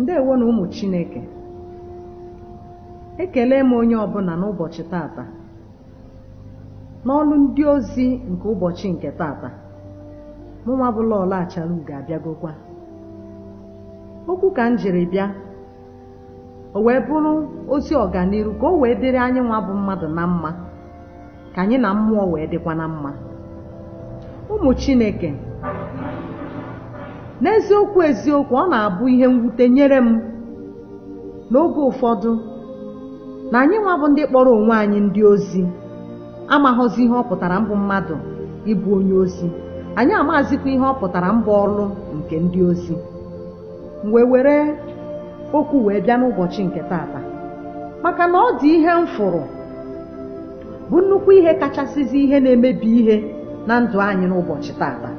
ndewo na ụmụ chineke ekele m onye ọbụla n'ụbọchị tata n'ọlụ ndị ozi nke ụbọchị nke tata mụnwa bụ lọọlọ achara ugo abịagokwa okwu ka m jiri bịa o wee bụrụ ozi ọganiru ka o wee dịrị anyị nwa bụ mmadụ na mma ka anyị na mmụọ wee dịkwa na mma ụmụ chineke n'eziokwu eziokwu ọ na-abụ ihe mwute nyere m n'oge ụfọdụ na anyị nwa bụ ndị kpọrọ onwe anyị ndị ozi amaghọzi ihe ọ pụtara mbụ mmadụ ịbụ onye ozi anyị amazikwa ihe ọ pụtara mbụ ọrụ nke ndị ozi m wee were okwu wee bịa n'ụbọchị nke tata maka na ọ dị ihe m fụrụ bụ nnukwu ihe kachasịzi ihe na-emebi ihe na ndụ anyị n'ụbọchị tata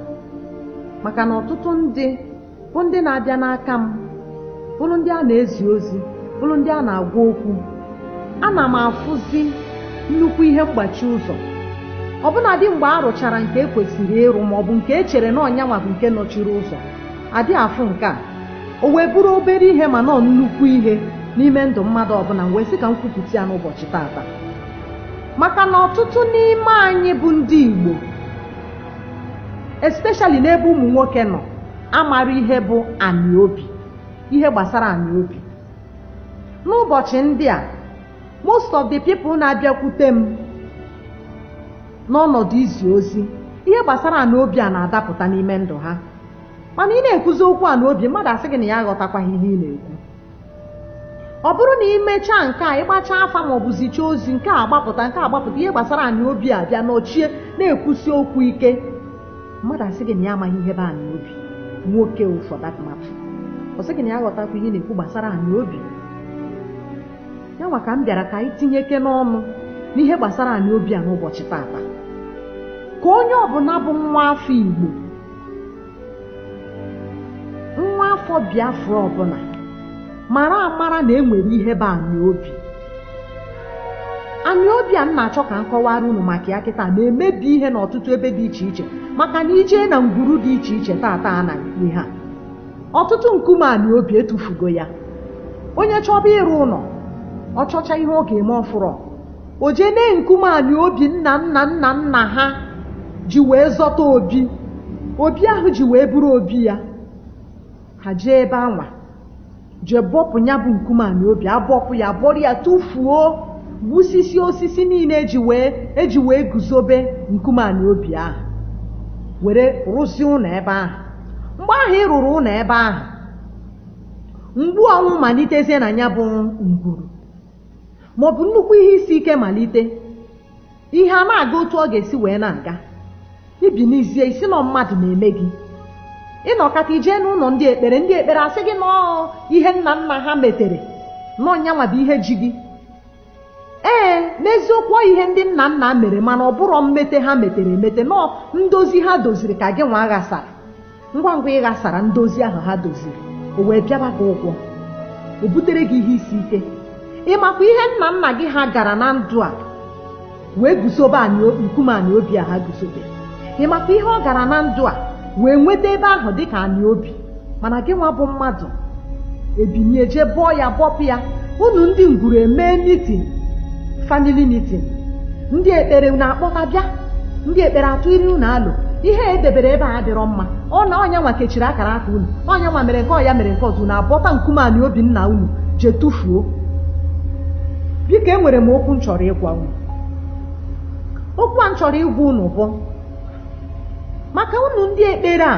maka na ọtụtụ ndị bụ ndị na-abịa n'aka m bụrụ ndị a na-ezi ozi bụrụ ndị a na-agwa okwu ana m afụzi nnukwu ihe mgbachi ụzọ ọbụnadị mgbe a rụchara nke e kwesịrị ịrụ maọbụ nke e chere na ọ nya nwa bụ nke nọchiri ụzọ adị afụ nke a o wee bụrụ obere ihe mana ọ nnukwu ihe n'ime ndụ mmadụ ọbụla m wee sị ka m kwupụta ya n'ụbọchị tata maka na ọtụtụ n'ime anyị bụ ndị Igbo especially n'ebe ụmụ nwoke nọ amarọ ihe bụ anị obi ihe gbasara anị obi n'ụbọchị ndị a most of the people na-abịakwute m n'ọnọdụ izi ozi ihe gbasara anị obi a na-adapụta n'ime ndụ ha mana ị na-ekwuzi okwu anị obi mmadụ asị gị na ya aghọtakwaghị ihe ị na-ekwu ọ bụrụ na i mechaa nke a ị gbachaa afa ma ọ bụ zichaa ozi nke a agbapụta nke a agbapụta ihe gbasara anị obi a bịa nọchie na-ekwusi okwu ike mmadụ asị gị na ya amaghị ihe bụ anị obi nwoke for that matter ọ sị gị na ya aghọtakwa ihe ị na-ekwu gbasara anị obi ya nwa ka m bịara ka anyị tinyekene ọnụ n'ihe gbasara anị obi a n'ụbọchị tata ka onye ọbụla bụ nwa afọ Igbo nwa afọ biafra ọbụla mara amara na e nwere ihe bụ anị obi anị obi a m na-achọ ka m kọwara unu maka ya kịta na-emebi ihe n'ọtụtụ ebe dị iche iche maka na i jee na ngwuru dị iche iche tata a na ihe a ọtụtụ nkume anị obi e tufugo ya onye chọba ịrụ ụlọ ọ chọcha ihe ọ ga-eme ọ fụrọ o jee nee nkume anị obi nna nna nna nna ha ji wee zọta obi obi ahụ ji wee bụrụ obi ya ha jee ebe anwa jee bọpụ ya bụ nkume anị obi abọpụ ya buru ya tụfuo gbusisi osisi niile eji wee guzobe nkume anị obi ahụ were rụzie ụlọ ebe ahụ mgbe ahụ ị rụrụ ụlọ ebe ahụ mgbu ọnwụ malitezie na ya bụ ngwuru ma ọ bụ nnukwu ihe isi ike malite ihe a na-aga otu ọ ga-esi wee na-aga i binizie ị sị nọọ mmadụ na-eme gị ị nọkata i jee n'ụlọ ndị ekpere ndị ekpere asị gị nọọ ihe nna nna ha metere nọọ nyanwa bụ ihe ji gị ee n'eziokwu ọ ihe ndị nna nna mere mana ọ bụrọ mmete ha metere emete nọọ ndozi ha doziri ka gị nwa ghasara ngwa ngwa ị ghasara ndozi ahụ ha doziri o wee bịaba gị ụgwọ o butere gị ihe isi ike ị makwa ihe nna nna gị ha gara na ndụ a wee guzobe nkume anị obi a ha guzobe ị makwa ihe ọ gara na ndụ a wee nweta ebe ahụ dịka anị obi mana gị nwa bụ mmadụ ebinie jee bọọ ya bọpụ ya unu ndị ngwuru emee mitin famili mitin ndị ekpere na-akpọta bịa ndị ekpere atụịrị unu alo ihe edebere ebe a adịrọ mma ọ na ọ nyanwa kechiri akara aka unu ọ nyanwa mere nke ọ ya mere nke ọzọ unu abọta nkume anị obi nna unu jee tụfuo biko enwere m okwu m chọrọ ịgwa unu okwu a m chọrọ ịgwa unu bụ maka unu ndị ekpere a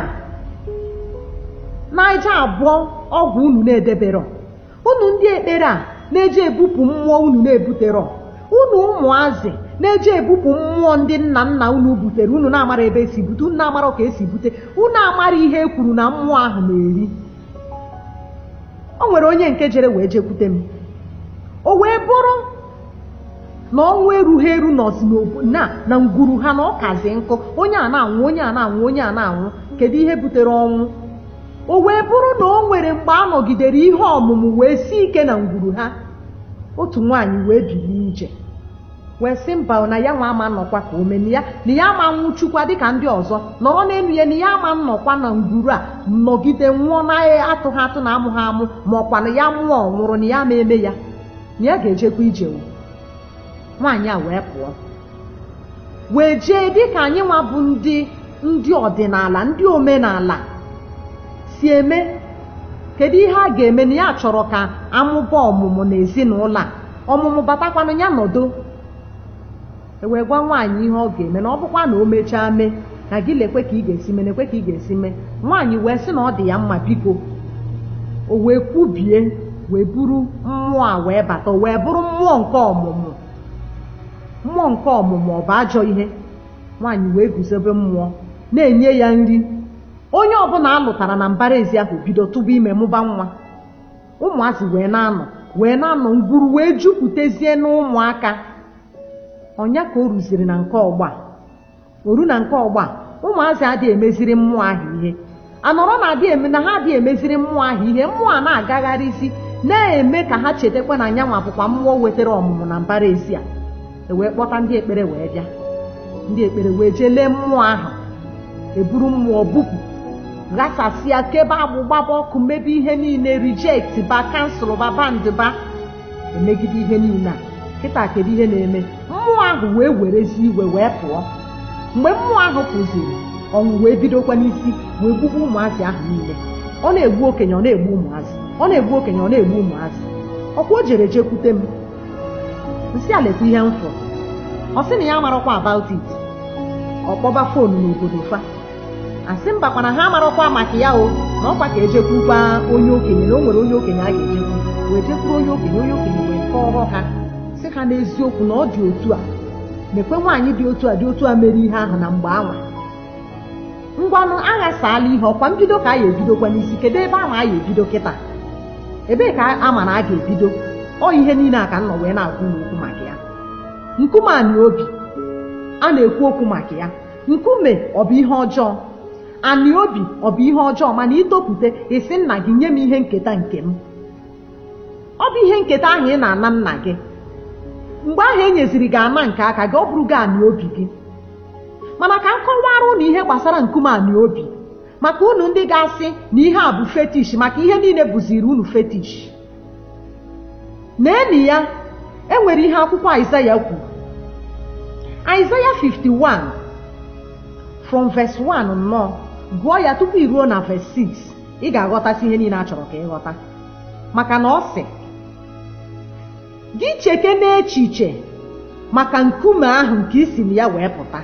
na-eje abọ ọgwụ unu na-edeberọ unu ndị ekpere a na-eje ebupụ mmụọ unu na-ebuterọ unu ụmụazị na-eje ebupụ mmụọ ndị nna nna unu butere unu na-amarọ ebe esi bute unu na-amarọ ka esi bute unu amarọ ihe e kwuru na mmụọ ahụ na-eri o nwere onye nke jere wee jekwute m o wee bụrụ na ọnwụ erughị eru nọzi n'obo na na ngwuru ha na ọ kazi nkụ onye a na-anwụ onye a na-anwụ onye a na-anwụ kedu ihe butere ọnwụ o wee bụrụ na o nwere mgbe a nọgidere ihe ọmụmụ wee si ike na ngwuru ha otu nwaanyị wee bilie ije wee sị mba na ya nwa ama nnọkwa ka o meni ya na ya ama nwụchukwa dịka ndị ọzọ nọrọ n'elu ya na ya ama nnọkwa na ngwuru a nọgide nwụọ na atụghị atụ na amụghị amụ ma ọkwa na ya mụọ ọ nwụrụ na ya ma eme ya na ya ga-ejekwa ije o nwaanyị a wee pụọ wee jee dịka anyị nwa bụ ndị ndị ọdịnala ndị omenala si eme kedu ihe a ga-eme na ya chọrọ ka a mụba ọmụmụ na ezinụlọ a ọmụmụ batakwanụ ya nọdụ e wee gwa nwaanyị ihe ọ ga-eme na ọ bụkwa na o mechaa mee na gị lekwe ka ị ga-esi mee lekwe ka ị ga-esi mee nwaanyị wee sị na ọ dị ya mma biko o wee kwubie wee buru mmụọ a wee bata o wee bụrụ mmụọ nke ọmụmụ mmụọ nke ọmụmụ ọ bụ ajọ ihe nwaanyị wee guzobe mmụọ na-enye ya nri onye ọbụla a lụtara na mbara ezi ahụ bido tụba ime mụba nwa ụmụazị wee na-anọ wee na-anọ ngwuru wee jupụtezie n'ụmụaka ọ nya ka o ruziri na nke ọgbọ a o ru na nke ọgbọ a ụmụazị adịghị emeziri mmụọ ahụ ihe a nọrọ na adị eme na ha adịghị emeziri mmụọ ahụ ihe mmụọ a na-agagharịzi na-eme ka ha chetakwa na nya nwa bụkwa mmụọ wetara ọmụmụ na mbara ezi a e wee kpọta ndị ekpere wee bịa ndị ekpere wee jee lee mmụọ ahụ e buru mmụọ bupụ ghasasịa kebe agbụ gbaba ọkụ mebe ihe niile reject ba cancel ba bind ba emegide ihe niile a kịta kedu ihe na-eme mmụọ ahụ wee werezi iwe wee pụọ mgbe mmụọ ahụ pụziri ọnwụ wee bidokwa n'isi wee gbube ụmụazị ahụ niile ọ na-egbu okenye ọ na-egbu ụmụazị ọ na-egbu okenye ọ na-egbu ụmụazị ọkwa o jere jekwute m m sị a lekwa ihe m fụrụ ọ sị na ya amarakwa about it ọ kpọba foonu n'obodo fa a sị mba kwa na ha amarakwa maka ya o na ọkwa ka e jekwukwa onye okenye na o nwere onye okenye a ga-ejekwu wee jekwuru onye okenye onye okenye wee kọọrọ ha sị ha n'eziokwu na ọ dị otu a mekwe nwaanyị dị otu a dị otu a mere ihe ahụ na mgbe anwa ngwanụ a ghasaala ihe ọkwa mbido ka a ya ebidokwa n'isi kedu ebe a ma a ya ebido kịta ebee ka a ma na a ga-ebido ọ ihe niile a ka m nọ wee na-agwa unu okwu maka ya nkume anị obi a na-ekwu okwu maka ya nkume ọ bụ ihe ọjọọ anị obi ọ bụ ihe ọjọọ mana i topụta ị sị nna gị nye m ihe nketa nke m ọ bụ ihe nketa ahụ ị na-ana nna gị mgbe ahụ e nyeziri gị ana nke aka gị ọ bụrụ gị anị obi gị mana ka m kọwara unu ihe gbasara nkume anị obi maka unu ndị ga-asị na ihe a bụ fetish maka ihe niile bụziri unu fetish N'enu ya, e nwere ihe akwụkwọ Aịzaya kwuru. Aịzaya 51 from verse 1 nnọọ gụọ ya tupu i ruo na verse 6 ị ga-aghọtasị ihe niile a chọrọ ka ị ghọta maka na ọ sị gị chekene echiche maka nkume ahụ nke i si na ya wee pụta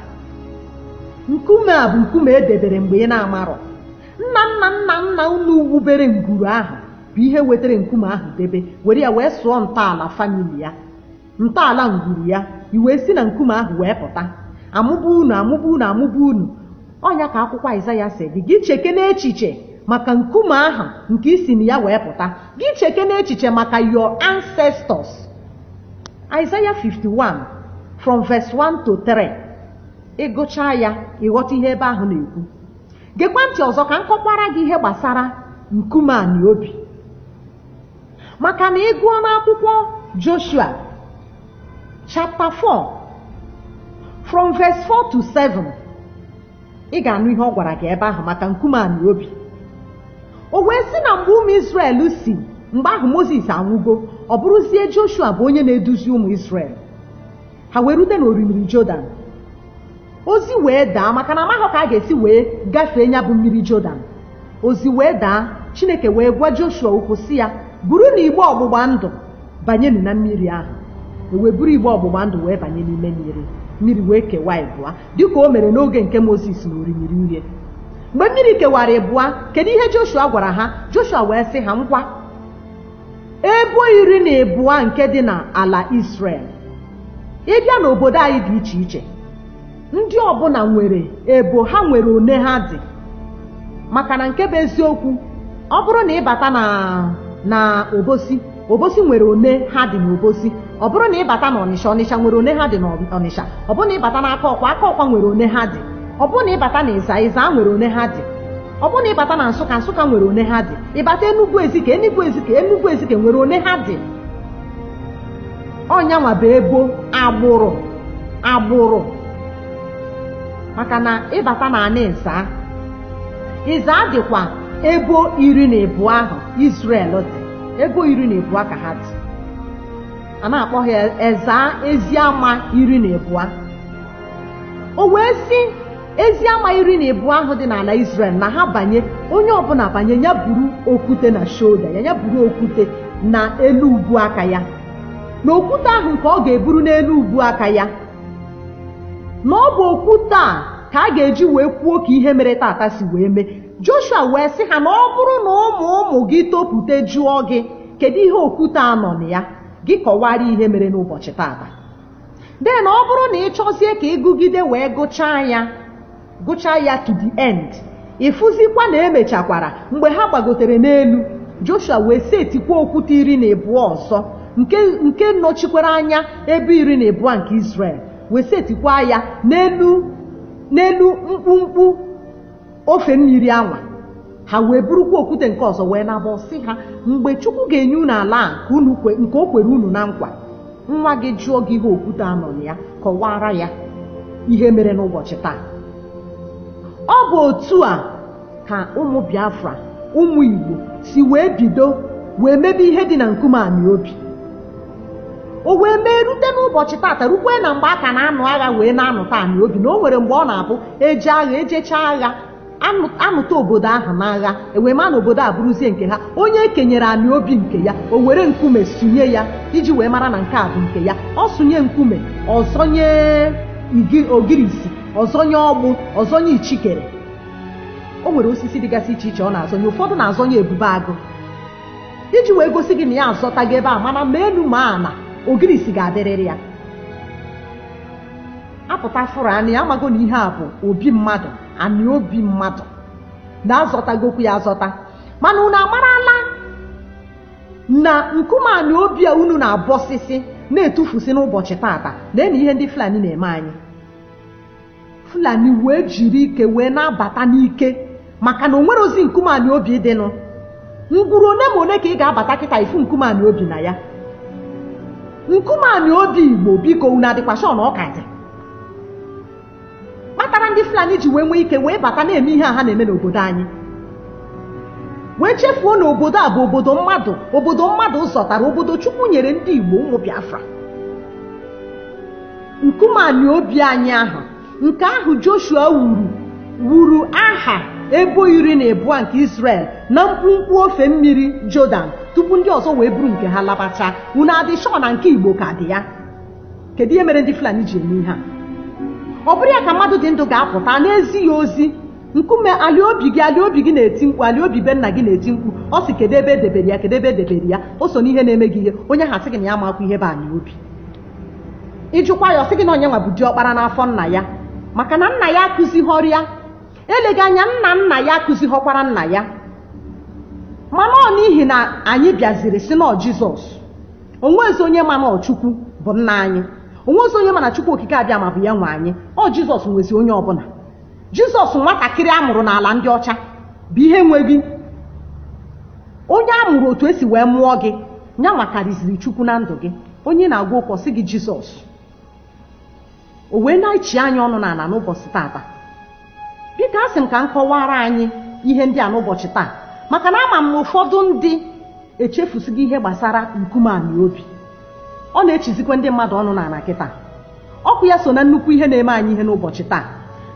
nkume a bụ nkume e debere mgbe ị na-amarọ nna nna nna nna unu wubere ngwuru ahụ bụ ihe wetara nkume ahụ debe were ya wee sụọ ntọala famili ya ntọala ngwuru ya i wee si na nkume ahụ wee pụta amụba unu amụba unu amụba unu ọ nya ka akwụkwọ Aịzaya sị gị gị cheke n'echiche maka nkume ahụ nke i si na ya wee pụta gị cheke n'echiche maka your ancestors Aịzaya 51 from verse 1 to 3 ị gụchaa ya ị ghọta ihe ebe ahụ na-ekwu geekwa ntị ọzọ ka m kọkwara gị ihe gbasara nkume anị obi maka na ị gụọ n'akwụkwọ joshua chapter 4 from verse 4 to 7 ị ga-anụ ihe ọ gwara gị ebe ahụ maka nkume anị obi o wee sị na mgbe ụmụ israel si mgbe ahụ moses anwụgo ọ bụrụzie joshua bụ onye na-eduzi ụmụ israel ha wee rute n'orimiri jordan ozi wee daa maka na amaghị ka a ga-esi wee gafee nya bụ mmiri Jọdan ozi wee daa Chineke wee gwa Joshua okwu sị ya burunu igbe ọgbụgba ndụ banyenụ na mmiri ahụ e wee buru igbe ọgbụgba ndụ wee banye n'ime mmiri mmiri wee kewaa ịbụa dịka o mere n'oge nke Mozis na orimiri uhie mgbe mmiri kewara ịbụa kedu ihe Joshua gwara ha Joshua wee sị ha ngwa ebo iri na ịbụa nke dị na ala Israel ị bịa n'obodo anyị dị iche iche ndị ọbụna nwere ebo ha nwere one ha dị maka na nke bụ eziokwu ọ bụrụ na ị bata na na obosi obosi nwere one ha dị n'obosi ọ bụrụ na ị bata na ọnịsha ọnịsha nwere one ha dị na ọnịsha ọ bụrụ na ị bata na akọkwa akọkwa nwere one ha dị ọ bụrụ na ị bata na ịza ịza nwere one ha dị ọ bụrụ na ị bata na nsụka nsụka nwere one ha dị ị bata enugwu ezike enugwu ezike enugwu ezike nwere one ha dị ọ nyanwa bụ ebo agbụrụ agbụrụ maka na ị bata na anị ịza ịza dịkwa ebo iri na ịbụa ahụ Israel dị ebo iri na ịbụa ka ha dị a na-akpọ ha eza ezi ama iri na ịbụa o wee sị ezi ama iri na ịbụa ahụ dị n'ala Israel na ha banye onye ọbụna banye nya buru okwute na shoulder ya nya buru okwute na elu ubu aka ya na okwute ahụ nke ọ ga-eburu n'elu ubu aka ya na ọ bụ okwute a ka a ga-eji wee kwuo ka ihe mere tata si wee mee Joshua wee sị ha na ọ bụrụ na ụmụ ụmụ gị topute jụọ gị kedu ihe okwute a nọ na ya gị kọwara ihe mere n'ụbọchị tata then ọ bụrụ na ị chọzie ka ị gụgide wee gụchaa ya gụchaa ya to the end ị fụzikwa na e mechakwara mgbe ha gbagotere n'elu Joshua wee setikwa okwute iri na ịbụa ọzọ nke nke nọchikwara anya ebo iri na ịbụa nke Israel wee setikwa ya n'elu n'elu mkpumkpu ofe mmiri anwa ha wee burukwa okwute nke ọzọ wee naba ọ sị ha mgbe chukwu ga-enye unu ala a nke unu kwe- nke o kwere unu na nkwa nwa gị jụọ gị ihe okwute a nọ na ya kọwara ya ihe mere n'ụbọchị taa ọ bụ otu a ka ụmụ biafra ụmụ igbo si wee bido wee mebe ihe dị na nkume anị obi o wee mee rute n'ụbọchị tata rukwe na mgbe a ka na-anụ agha wee na-anụta anị obi na o nwere mgbe ọ na-abụ eje agha ejechaa agha anụ- anụta obodo ahụ n'agha ewee ma na obodo a bụrụzie nke ha onye ekenyere anị obi nke ya o were nkume sụnye ya iji wee mara na nke a bụ nke ya ọ sụnye nkume ọ zọnye igi- ogirisi ọ zọnye ọgbụ ọ zọnye ichikere o nwere osisi dịgasị iche iche ọ na-azọnye ụfọdụ na-azọnye ebube agụ iji wee gosi gị na ya azọtago ebe a mana ma elu ma ala ogirisi ga-adịrịrị ya apụta fụrụ anị ya amago na ihe a bụ obi mmadụ anị obi mmadụ na a zọtagokwu ya azọta mana unu amarala na nkume anị obi a unu na-abọsịsị na-etufusi n'ụbọchị tata lee nụ ihe ndị Fulani na-eme anyị fulani wee jiri ike wee na-abata n'ike maka na o nwerọzi nkume anị obi dịnụ ngwuru one ma one ka ị ga-abata kịta ị fụ nkume anị obi na ya nkume anị obi igbo biko unu adịkwa sure na ọ ka dị kpatara ndị fulani ji wee nwee ike wee bata na-eme ihe a ha na-eme n'obodo anyị wee chefuo na obodo a bụ obodo mmadụ obodo mmadụ zọtara obodo chukwu nyere ndị igbo ụmụ biafra nkume anị obi anyị ahụ nke ahụ joshua wuru wuru aha ebo iri na ịbụa nke israel na mkpumkpu ofe mmiri jọdan tupu ndị ọzọ wee buru nke ha labacha unu adị sure na nke igbo ka dị ya kedu ihe mere ndị fulani ji eme ihe a ọ bụrụ ya ka mmadụ dị ndụ ga-apụta na-ezi ya ozi nkume ali obi gị ali obi gị na-eti mkpu ali obi be nna gị na-eti mkpu ọ sị kedu ebe edebere ya kedu ebe edebere ya o so n'ihe na-eme gị ihe onye ha sị gị na ya amakwa ihe bụ anị obi ị jụkwa ya ọ sị gị na onye nwa bụ diọkpara n'afọ nna ya maka na nna ya akụzighọrọ ya eleghị anya nna nna ya akụzighọkwara nna ya mana ọ n'ihi na anyị bịaziri sị na ọ jizọs o nwezi onye ma na ọ chukwu bụ nna anyị o nwezi onye ma na chukwu okike abịama bụ ya nwe anyị ọ jizọs nwezi onye ọbụla jizọs nwatakịrị a mụrụ n'ala ndị ọcha bụ ihe nwe gị onye a mụrụ otu esi wee mụọ gị ya nwakarịziri chukwu na ndụ gị onye na-agwa okwu ọ sị gị jizọs o wee na-echi anyị ọnụ n'ala n'ụbọchị tata biko asị m ka m kọwara anyị ihe ndị a n'ụbọchị taa maka na ama m ụfọdụ ndị echefusigo ihe gbasara nkume anị obi ọ na-echizikwa ndị mmadụ ọnụ n'ala kịta okwu ya so na nnukwu ihe na-eme anyị ihe n'ụbọchị taa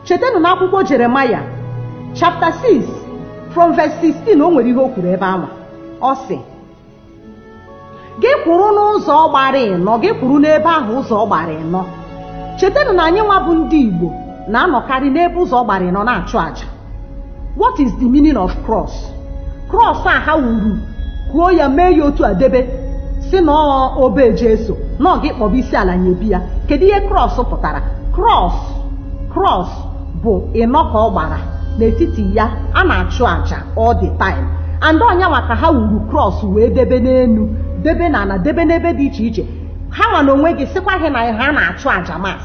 chetanụ na akwụkwọ jeremaya chapter 6 from verse 16 o nwere ihe o kwuru ebe ahụ ọ sị gị kwụrụ n'ụzọ gbara ịnọ gị kwụrụ n'ebe ahụ ụzọ gbara ịnọ chetanụ na anyị nwa bụ ndị igbo na-anọkarị n'ebe ụzọ gbara ịnọ na-achụ àjà what is the meaning of cross cross a ha wuru kụọ ya mee ya otu a debe sị na ọ obe jesu na ọ gị kpọba isi ala nyebe ya kedu ihe cross pụtara cross cross bụ ịnọ ka ọ gbara n'etiti ya a na-achụ àjà all the time and ọ nya nwa ka ha wuru cross wee debe n'elu debe na ala debe n'ebe dị iche iche ha nwa na onwe gị sịkwa gị na ha na-achụ àjà mass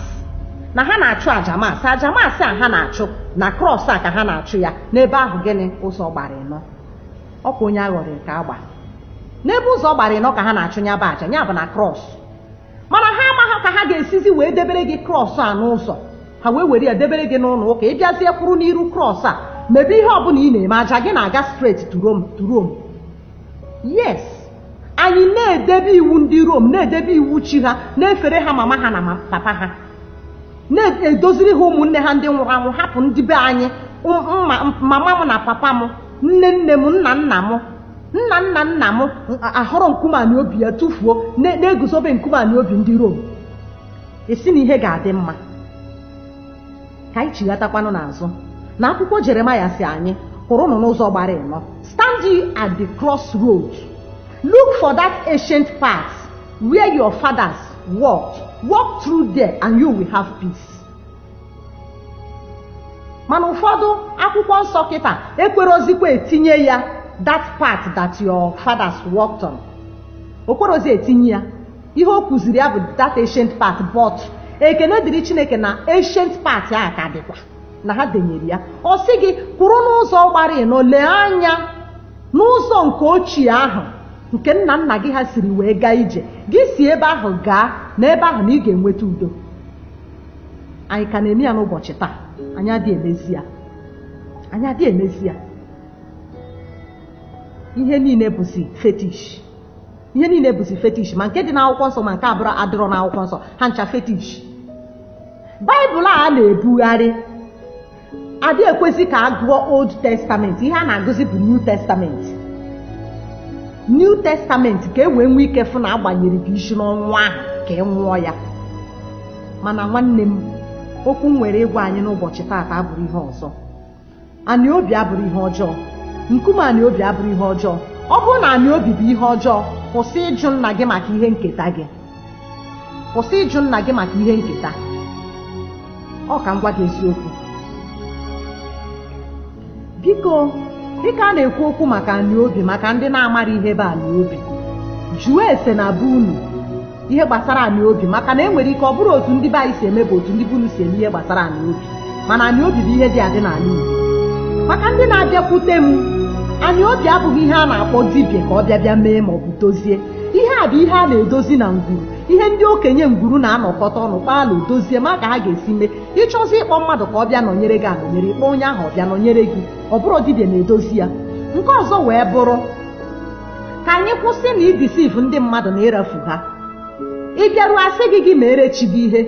na ha na-achụ àjà mass àjà mass a ha na-achụ na cross a ka ha na-achụ ya n'ebe ahụ gịnị ụzọ gbara ịnọ ọkwa onye aghọrị ka agba n'ebe ụzọ gbara ịnọ ka ha na-achụ ya bụ àjà ya bụ na cross mana ha amaghị ka ha ga-esizi wee debere gị cross a n'ụzọ ha wee were ya debere gị n'ụlọ ụka ị bịazie kwụrụ n'iru cross a mebe ihe ọbụla ị na-eme àjà gị na-aga straight to Rome yes anyị na-edebe iwu ndị Rome na-edebe iwu chi ha na-efere ha mama ha na ma- papa ha na-edoziri ha ụmụnne ha ndị nwụrụ anwụ hapụ ndị be anyị m- mma- mama m na papa m nne nne m nna nna m nna nna nna m ahọrọ nkume anị obi ya tụfuo na- na-eguzobe nkume anị obi ndị Rome a sị na ihe ga-adị mma ka anyị chighatakwanụ n'azụ na akwụkwọ jeremaya sị anyị kwụrụnụ n'ụzọ gbara ịnọ stand ye at the crossroad look for that ancient path where your fathers walked walk through there and you will have peace mana ụfọdụ akwụkwọ nsọ kịta ekwerozikwa etinye ya that path that your fathers walked on okwerozi etinye ya ihe o kwuziri ya bụ that ancient path but ekene dịrị chineke na ancient path a ka dịkwa na ha denyere ya ọ sị gị kwụrụ n'ụzọ gbara ịnọ lee anya n'ụzọ nke ochie ahụ nke nna nna gị ha siri wee gaa ije gị si ebe ahụ gaa na ebe ahụ na ị ga-enweta udo anyị ka na-eme ya n'ụbọchị taa anyị adị emezi ya anyị adị emezi ya ihe niile bụzi fetish ihe niile bụzi fetish ma nke dị n'akwụkwọ nsọ ma nke abụrọ adịrọ n'akwụkwọ nsọ ha ncha fetish baịbụl a ha na-ebugharị adị ekwesị ka a gụọ old testament ihe a na-agụzi bụ new testament new testament ka e wee nwee ike fụ na agbanyere gị isi n'ọnwụ ahụ ka ị nwụọ ya mana nwanne m okwu m nwere ịgwa anyị n'ụbọchị taata abụrụ ihe ọzọ anị obi abụrụ ihe ọjọọ nkume anị obi abụrụ ihe ọjọọ ọ bụrụ na anị obi bụ ihe ọjọọ kwụsị ịjụ nna gị maka ihe nketa gị kwụsị ịjụ nna gị maka ihe nketa ọ ka m gwa gị eziokwu biko dịka a na-ekwu okwu maka anị obi maka ndị na-amara ihe bụ anị obi jụọ ese na be unu ihe gbasara anị obi maka na e nwere ike ọ bụrụ otu ndị be anyị si eme bụ otu ndị be unu si eme ihe gbasara anị obi mana anị obi bụ ihe dị adị n'ala Igbo maka ndị na-abịakwute m anị obi abụghị ihe a na-akpọ dibịa ka ọ bịa bịa mee ma ọ bụ dozie ihe a bụ ihe a na-edozi na ngwuru ihe ndị okenye ngwuru na-anọkọta ọnụ kpaalụ dozie ma ka ha ga-esi mee ị chọzi ịkpọ mmadụ ka ọ bịa nọnyere gị anọnyere ị kpọọ onye ahụ ọ bịa nọnyere gị ọ bụrụ dibịa na-edozi ya nke ọzọ wee bụrụ ka anyị kwụsị na idisiv ndị mmadụ na ịrafu ha ị bịaruo a sị gị gị meere chi gị ihe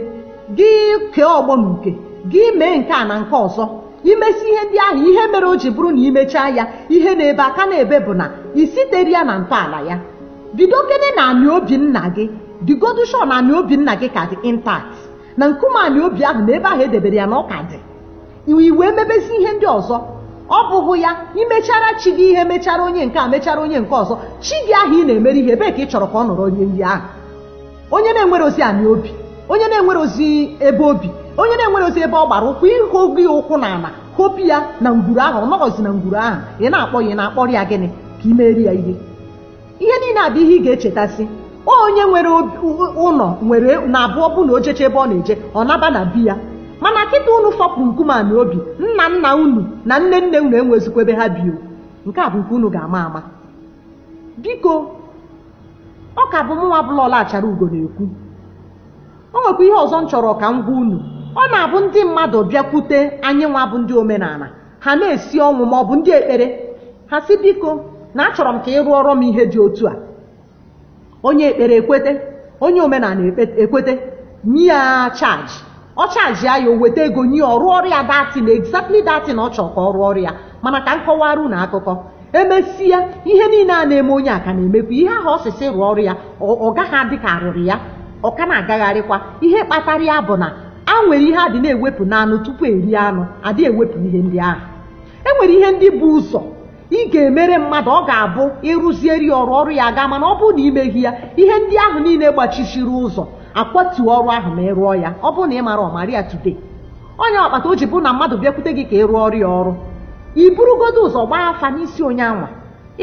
gị kee ọgbọ na uke gị mee nke a na nke ọzọ i mesịa ihe ndị ahụ ihe mere o ji bụrụ na i mechaa ya ihe na-ebe aka na-ebe bụ na i sitere ya na ntọala ya bidokene na anị obi nna gị dịgodu sure na anị obi nna gị ka dị intact na nkume anị obi ahụ na ebe ahụ e debere ya na ọ ka dị i wee mebezi ihe ndị ọzọ ọ bụghị ya i mechaara chi gị ihe mechara onye nke a mechara onye nke ọzọ chi gị ahụ ị na-emere ihe ebee ka ị chọrọ ka ọ nọrọ onye ndị ahụ onye na-enwerozi anị obi onye na-enwerozi ebe obi onye na-enwerozi ebe ọ gbara ụkwụ ịhụ gị ụkwụ na ala hopụ ya na ngwuru ahụ ọ nọghọzi na ngwuru ahụ ị na-akpọ ya ị na-akpọrọ ya gịnị ka ị meeri ya ihe ihe niile a bụ ihe ị ga-echetasị onye nwere obi- ụ- ụlọ nwere na abụọ bụ na o jechaa ebe ọ na-eje ọ naba na be ya mana kịta unu fopụrụ nkume anị obi nna nna unu na nne nne unu enwezikwa ebe ha bi o. nke a bụ nke unu ga-ama ama biko ọ ka bụ mụnwa bụla ọla achara ugo na-ekwu o nwekwa ihe ọzọ m chọrọ ka m gwa unu ọ na-abụ ndị mmadụ bịakwute anyị nwa bụ ndị omenala ha na-esi ọnwụ ma ọ bụ ndị ekpere ha sị biko na achọrọ m ka ị rụọrọ m ihe dị otu a onye ekpere ekwete onye omenala ekpe- ekwete nye ya chaji ọ chajia ya o weta ego nye ya ọ rụọrọ ya that thing exactly that thing ọ chọrọ ka ọ rụọrọ ya mana ka m kọwara unu akụkọ e mesịa ihe niile a na-eme onye a ka na-emekwa ihe ahụ ọ sị sị rụọrọ ya ọ ọ gaghị adị ka a rụrụ ya ọ ka na-agagharịkwa ihe kpatara ya bụ na e nwere ihe a dị na-ewepụ n'anụ tupu e rie anụ adị ewepụ ihe ndị ahụ e nwere ihe ndị bu ụzọ ị ga-emere mmadụ ọ ga-abụ ịrụzieri ọrụ ọrụ ya aga mana ọ bụrụ na imeghị ya ihe ndị ahụ niile gbachishiri ụzọ akwatu ọrụ ahụ ma ị rụọ ya ọ bụrụ na ị marọ mara ya today ọnya kpata o ji bụrụ na mmadụ bịakwute gị ka ị rụọrọ ya ọrụ i burugodo ụzọ gbaa afa n'isi onye anwa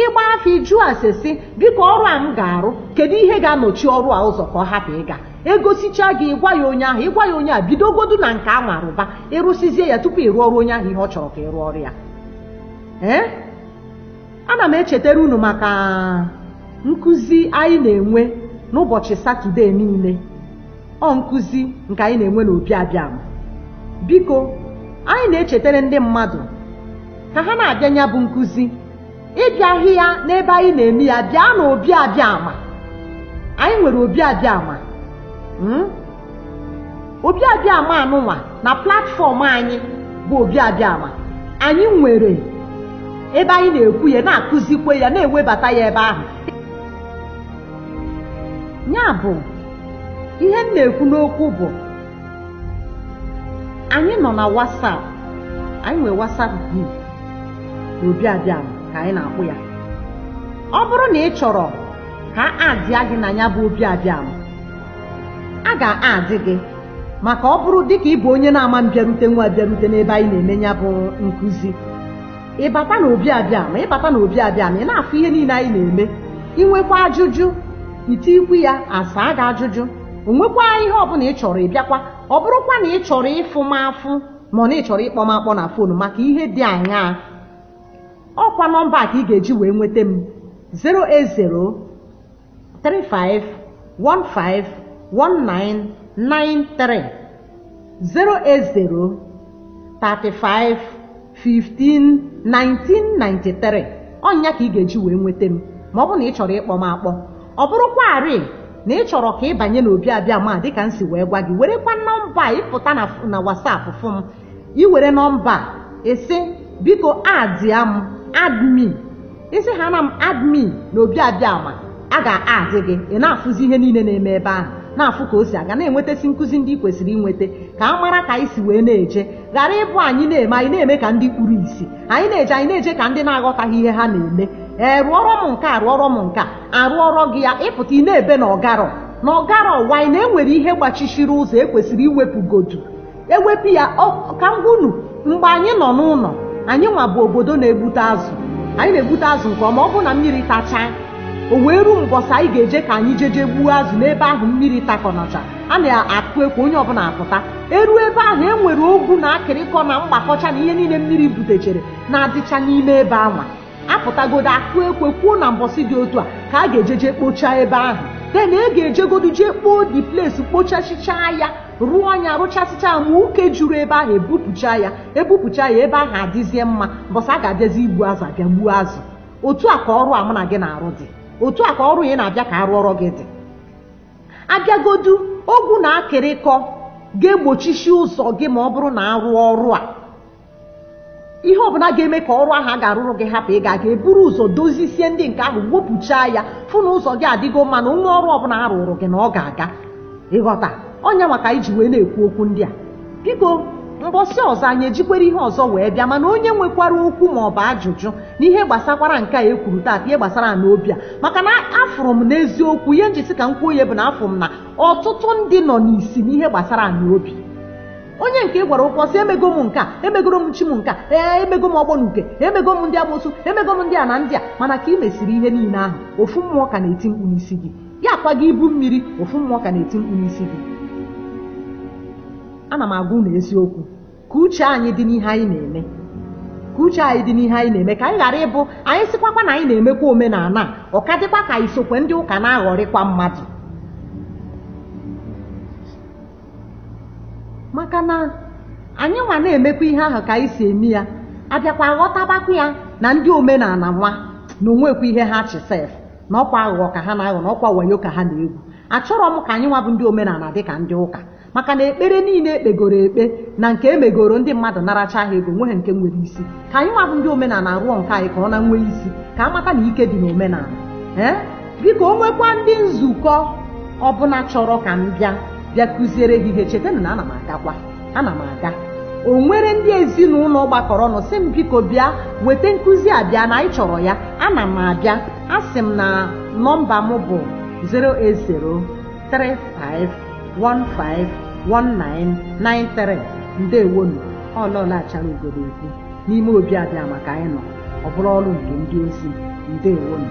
ịgba afa ịjụ ase sị biko ọrụ a m ga-arụ kedu ihe ga-anọchi ọrụ a ụzọ ka ọ hapụ ịga egosicha gị ịgwa ya onye ahụ ịgwa ya onye a bidogodu na nke anwa rụba ịrụsizie ya tupu ị rụọrọ onye ahụ ihe ọ chọrọ ka ị rụọrọ ya ee ana m echetara unu maka nkụzi anyị na-enwe n'ụbọchị satọde niile ọ nkụzi nke anyị na-enwe n'obi abịama biko anyị na-echetara ndị mmadụ ka ha na-abịa ya bụ nkụzi ị bịaghị ya n'ebe anyị na-eme ya bịa na obi abịama anyị nwere obi abịama obi abịama anụnwa na platfọm anyị bụ obi abịama anyị nwere ebe anyị na-ekwu ya na-akụzikwe ya na-ewebata ya ebe ahụ ya bụ ihe m na-ekwu n'okwu bụ anyị nọ na WhatsApp anyị nwere WhatsApp group obi abịama ka anyị na-akpọ ya ọ bụrụ na ị chọrọ ka a addịa gị na ya bụ obi abịama a ga-add gị maka ọ bụrụ dịka ịbụ onye na-ama mbịarute nwa abịarute n'ebe anyị na-eme ya bụ nkụzi ịbata na obi abịama ịbata na obi abịama ị na-afụ ihe niile anyị na-eme inwekwa ajụjụ itikwu ya asaa gị ajụjụ onwekwa ihe ọbụla ị chọrọ ịbịakwa ọ bụrụkwa na ị chọrọ ịfụ m afụ ma na ị chọrọ ịkpọ m akpọ na fon maka ihe dị aṅaa ọkwa nọmba ka ị ga-eji wee nweta m 080 35151993 080 35 15 1993 ọnya ka ị ga-eji wee nweta m ma ọ bụrụ na ị chọrọ ịkpọ m akpọ ọ bụrụkwarị na ị chọrọ ka ị banye n'obi abịama dịka m si wee gwa gị werekwa nọmba a ịpụta na WhatsApp fụ m i were nọmba ịsị biko addịa m add me ịsị ha na m add me na obi abịama a ga-add gị ị na-afụzi ihe niile na-eme ebe ahụ na-afụ ka o si aga na-enwetasị nkụzi ndị ị kwesịrị inweta ka a mara ka anyị si wee na-eje ghara ịbụ anyị na-eme anyị na-eme ka ndị kpuru isi anyị na-eje anyị na-eje ka ndị na-aghọtaghị ihe ha na-eme ee rụọrọ m nke a rụọrọ m nke a arụọrọ gị ya ịpụta ị na-ebe na ọgarọ na ọgarọ while na enwere ihe gbachishiri ụzọ ekwesịrị iwepụgodu ewepụ ya ọ- ka m gwa unu mgbe anyị nọ n'ụlọ anyị nwa bụ obodo na-egbute azụ anyị na-egbute azụ nke ọma ọ bụrụ na mmiri tachaa o wee ruo mbọsị anyị ga-eje ka anyị jeje gbuo azụ n'ebe ahụ mmiri takọnacha a na-akụ ekwe onye ọbụla apụta eruo ebe ahụ e nwere ogwu na akịrịkọ na mgbakọcha na ihe niile mmiri butechere na-adịcha n'ime ebe anwa apụtagodu a kụọ ekwe kwuo na mbọsị dị otu a ka a ga-ejeje kpochaa ebe ahụ then e ga-ejegodu jee kpoo the place kpochasichaa ya rụọ anya rụchasịcha ma uke juru ebe ahụ ebupụcha ya ebupụcha ya ebe ahụ adịzie mma mbọsị a ga-abịazi igbu azụ abịa gbuo azụ otu a ka ọrụ a mụ na gị na-arụ dị otu a ka ọrụ ị na-abịa ka a rụọrọ gị dị abịagodu ogwu na akịrịkọ ga-egbochisi ụzọ gị ma ọ bụrụ na a rụọ ọrụ a ihe ọbụla ga-eme ka ọrụ ahụ a ga-arụrụ gị hapụ ịga aga e buru ụzọ dozisie ndị nke ahụ wepụchaa ya fụ na ụzọ gị adịgo mma na o nwee ọrụ ọbụla a rụrụ gị na ọ ga-aga ị ghọta ọ nya maka anyị ji wee na-ekwu okwu ndị a biko mbọsị ọzọ anyị ejikwere ihe ọzọ wee bịa mana onye nwekwara okwu ma ọ bụ ajụjụ na ihe gbasakwara nke a e kwuru taata ihe gbasara ana obi a maka na afụrụ m n'eziokwu ihe m ji sị ka m kwuo ya bụ na afụrụ m na ọtụtụ ndị nọ n'isi n'ihe gbasara ana obi onye nke ị gwara okwu ọ sị emego m nke a emegoro m chi m nke a ee emego m ọgbọ na uke emego m ndị amusu emego m ndị a na ndị a mana ka ị mesịrị ihe niile ahụ ofu mmụọ ka na-eti mkpu n'isi gị ya akwa gị ibu mmiri ofu mmụọ ka na-eti mkpu n'isi gị ana m agwa unu eziokwu ka uche anyị dị n'ihe anyị na-eme ka uche anyị dị n'ihe anyị na-eme ka anyị ghara ịbụ anyị sịkwakwa na anyị na-emekwa omenala a ọ ka dịkwa ka anyị sokwa ndị ụka na-aghọrịkwa mmadụ maka na anyị nwa na-emekwa ihe ahụ ka anyị si eme ya abịakwa aghọtabakwa ya na ndị omenala nwa na o nwekwa ihe ha chi sef na ọkwa aghụghọ ka ha na-aghọ na ọkwa wayo ka ha na-egwu achọrọ m ka anyị nwa bụ ndị omenala dị ka ndị ụka maka na ekpere niile ekpegoro ekpe na nke emegoro ndị mmadụ naracha ha ego nweghị nke nwere isi ka anyị nwa bụ ndị omenala rụọ nke anyị ka ọ na-enwe isi ka a mata na ike dị n'omenala ee biko o nwekwa ndị nzukọ ọbụla chọrọ ka m bịa bịa kụziere ha ihe chetanụ na ana m agakwa ana m aga o nwere ndị ezinụlọ gbakọrọ ọnụ sị m biko bịa weta nkụzi a bịa na anyị chọrọ ya ana m abịa asị m na nọmba m bụ 08035151993 ndewonu ọ lọla achara ugodo ekwu n'ime obi abịa maka anyị nọ ọ bụrụ ọrụ nke ndị ozi ndewonu